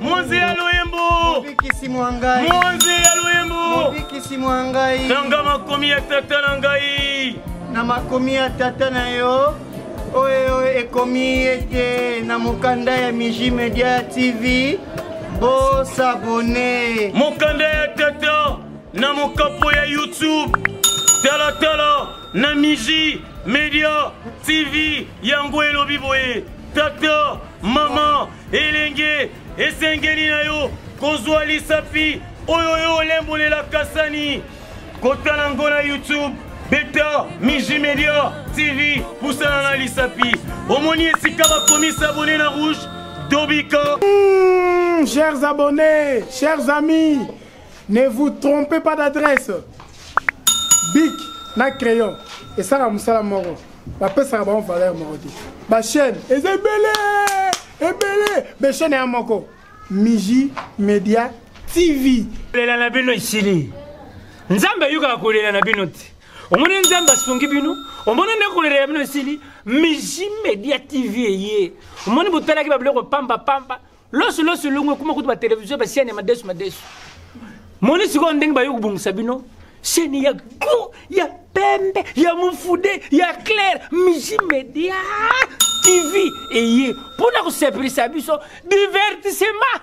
Monzi ya loyembo Mobikisi mwa ngai Monzi ya loyembo Mobikisi mwa ngai Tanga makomi ya tata na ngai Na makomi ya tata na yo oyo ekomi ete na mokanda ya Miji Media TV bosabone mokanda ya tata na mokapo ya YouTube talatala na Miji Media TV yango elobi boye tata mama elenge esengeli na yo kozwa lisapi oyo yo olembolela kasani kotala ngo na youtube beta miji media tv pusana na lisapi omoni esika bakomi sabone na rouge tobika mmh, chers abonnés chers amis Ne vous trompez pas d'adresse. Bic na crayon esaka musala moko bapesaka bango valeur moko te bachaîne eza ebele ebele bachaîne ya moko miji media tv kolela na bino esili nzambe ayokaka kolela na bino te omoni nzambe asungi bino omoni nde kolela ya bino esili miji media tv eye omoni botalaki babiloko pamba pamba loso loso elongo ekoma kutu batelevizio basiani ya madesu madesu moni sikoyo ndenge bayo kobongisa bino seni ya go ya pembe ya mofude ya claire miji media tv eye mpo na kosepelisa biso divertissement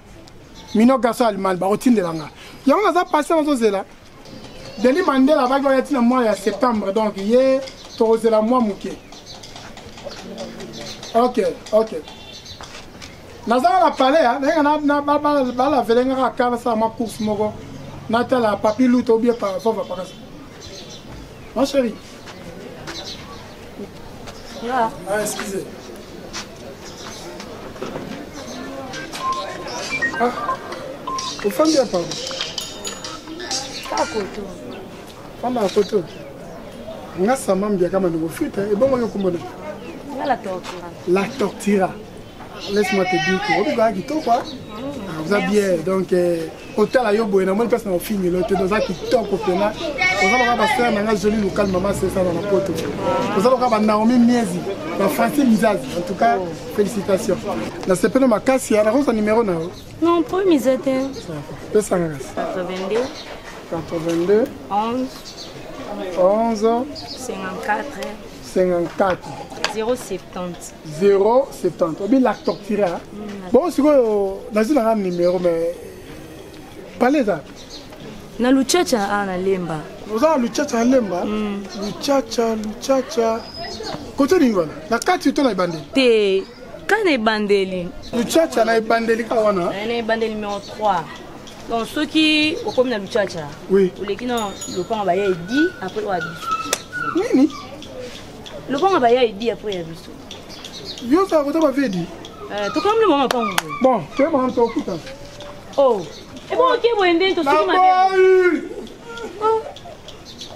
mino garçon allemagne bakotindela nga yango naza patient nazozela denis mandela abaki oya ntina mois ya septembre donc ye tokozela mwa moke ok ok nazanga na palais ya nayenge balavele nga kaka nasala mwa course moko natala papi luta obie pavava pakasa ma chérie Ah, excusez. Ah, ofandi apa? Kaka koto. Fanda ya koto. Nga sama mbia kama ndongo fita ebongo yo kombo na. Nga la tortira. La tortira. Laisse-moi te dire que obi ba kitoko. Ah, vous bien donc euh, kotala yo boye namoni place na ofingelo te oza kitoko mpena oza loka basere na ngai joli lokal mama sesana na poto oza loka banaomi miezi na franci mizazi en tout cas félicitation nasepeli makasi ya nakosa numero na yo non po miza te pesanga kasi 82 82 11 11 54 54 070 070 obi lactoctira mm, bongo sikoyo nazwi nanga numero mais pale eza na luchacha a ah, na lemba oza na luchacha ya lemba mm. luchacha luchacha kote nini wana na kati to na ebandeli te ka na ebandeli luchacha na ebandeli ka wana eh, na ebandeli numero 3 donc soki okomi na lucaca oui. oleki na lopango baya edi apres oya biso nini lopango baya edi apres ya biso yo ozala kota bavie edi eh, tokamli mwa mapango bon toyebana tokuta o oh. ebongoke eh, boye nde tosuki mabe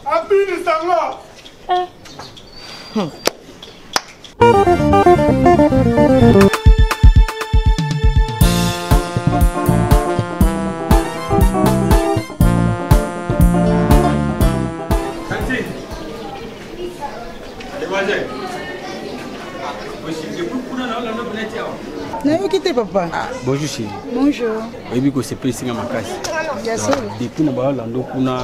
abinisa nga eh. hmm. nayoki te papa ah, bonjour chéri bonjour oyebi kosepelisi nga makasi depuis na baolando kuna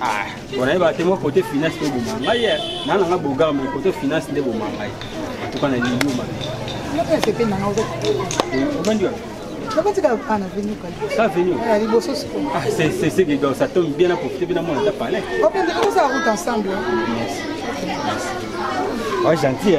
Ah, bona yeba te mwa kote finance mpe boma ngai eh. naa nanga bogar mai kote finance nde boma ngai tuka na liyo mabe obandi wapi seseke donc ça tombe bien na profite mpe namona ata palais gentil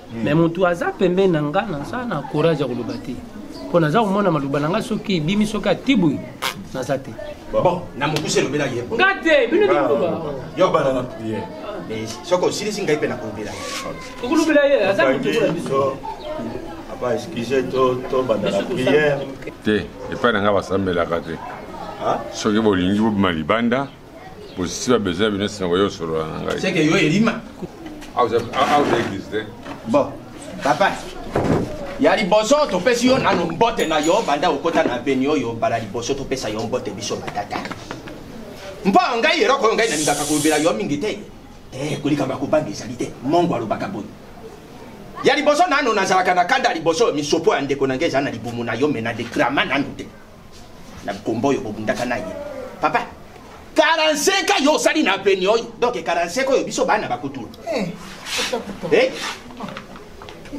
hmm. mais mutu aza pembe na nga naza na courage ya koloba te mpo naza komona maloba na nga soki ebimi soki atibwi naza te bon na mokuse elobela ye nga te bino dikoloba yo bana na priere soki osilisi ngai mpe nakolobela ye okolobela ye aza motu na biso apa excuse to tobanda na priere te epai na ngai basambelaka te soki bolingi bobima libanda bosisi ba besoin bino nsima boye osolola na ngai seke yo elima aoza église te bon papa ya liboso topesi yo nano mbote na yo banda okota na beni oyo mbala liboso topesa yo mbote biso batata mpo ngai eloko oyo ngai nalingaka kolobela yo mingi te eh, kolikamba kobanga ezali te mongo alobaka boye ya liboso nano nazalaka na kanda liboso misopo ya ndeko na ngai ezala na libumu na yo me na dekrama nano te na kombo oyo bobundaka na ye papa 45 ans yo osali na peni oyo donc 45 oyo biso bana bakutula eh, eh?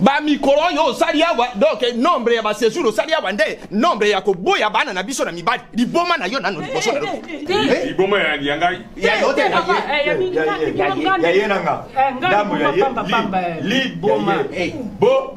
bamikolo oyo osali awa donc nombre ya basejour osali awa nde nombre ya koboya bana na biso na mibali liboma na yo nano liboso na loboma eh, ya ngai ya yo te ya ye na nga ndambo ya ye liboma bo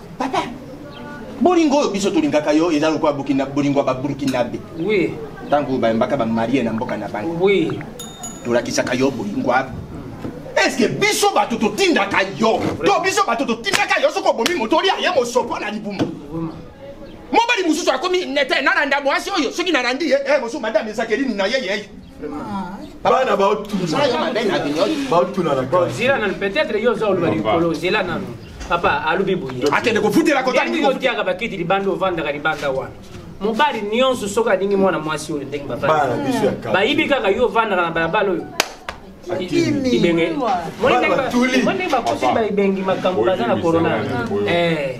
papa bolingo oyo biso tolingaka yo eza lokola bolingo ya baburkinabe oui. ntango bayembaka bamarie na mboka na bango oui. tolakisaka yo bolingo eske biso bato totindaka yo to biso bato totindaka yo soki obomi moto olia ye mosopo na libumu mobali mosusu akomi nete nalanda mwasi oyo soki nalandi ye eh, mosusu madame ezakelini na ye yeye bana baotunana peut-être yo oza oloba likolo zela nanu papa alobi boye akende kofutela kota ndenge otiaka bakiti libanda ovandaka libanda wana mobali nyonso soki alingi mwana mwasi oyo ndenge babayibi kaka yo ovandaka na balabala oyo ibenge moni ndenge bakoseli bayibengi makambo baza na corona eh.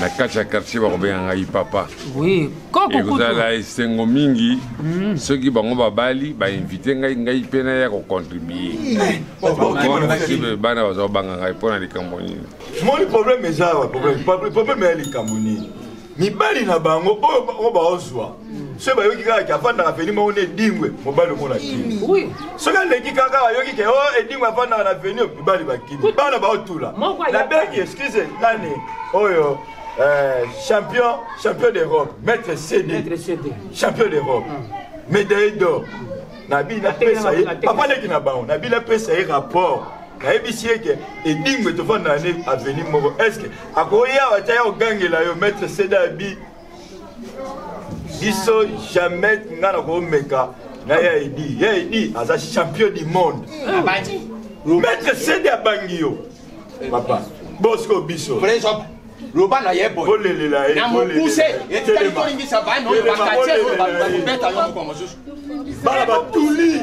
na kati ya quartier bakobenga ngai papa ekozala esengo mingi hmm. soki bango babali bainvite ngai ngai mpe naya kocontribue bana baza kobanga ngai mpo na likambo nini moni problème eza awa problème ya likambo nini mibali na bango oyo baozwa soki bayoki kaka ke afandaka aveni moko na edingwe mobali omona kimi soki aleki kaka bayoki ke o oh, edingwe afandaka na aveni mibali bakimi bana baotula nabengi excuse nani oyo eh, champion champion d'europe maître cd champion d'europe mm. médaille d'or nabi napesa ye papa leki na bango nabi napesa ye rapport nayebisi ye ke edingwe tofandaka ne aveni moko est ce que akoya batya ya kogangela yo maître cd abi biso jamais nga na komeka na ya edi ya edi aza champion du monde maître sede abangi yo papa bosiko biso loba na ye boyelelela ye na mokuse etikali tolingisa bana oyo bakati oyo bakobeta yo mokolo mosusu bana batuli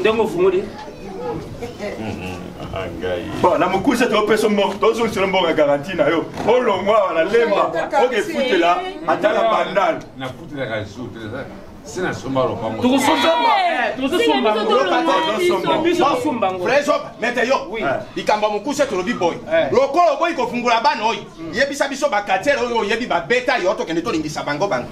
ndenge ofungoli bon na mokuse topesa mboka tozongisela mboka garanti na yo olongwa awa na lemba okefutela ata na bandal sina somba lopango mete yo likambo ya mokuse tolobi boye lokola oboyi kofungula bana oyo yebisa biso bakatiere oyo oyebi babeta yo tokende tolingisa bango bango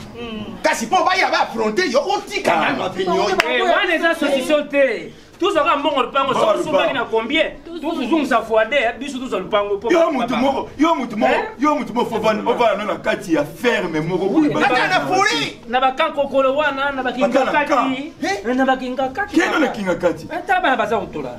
kasi mpo baya ba affronte yo otika ah. nano opinion eh, wana eza solution te tozwaka mbongo lupango soki sombaki na combien tozozongisa foide eh, biso tozwa lupango yo mutu moko yo mutu moko eh? yo mutu moko ovanda no na kati ya ferme moko na bakankokolo wana na bakingakati na bakingakati kino na kingakati ata bana baza kotola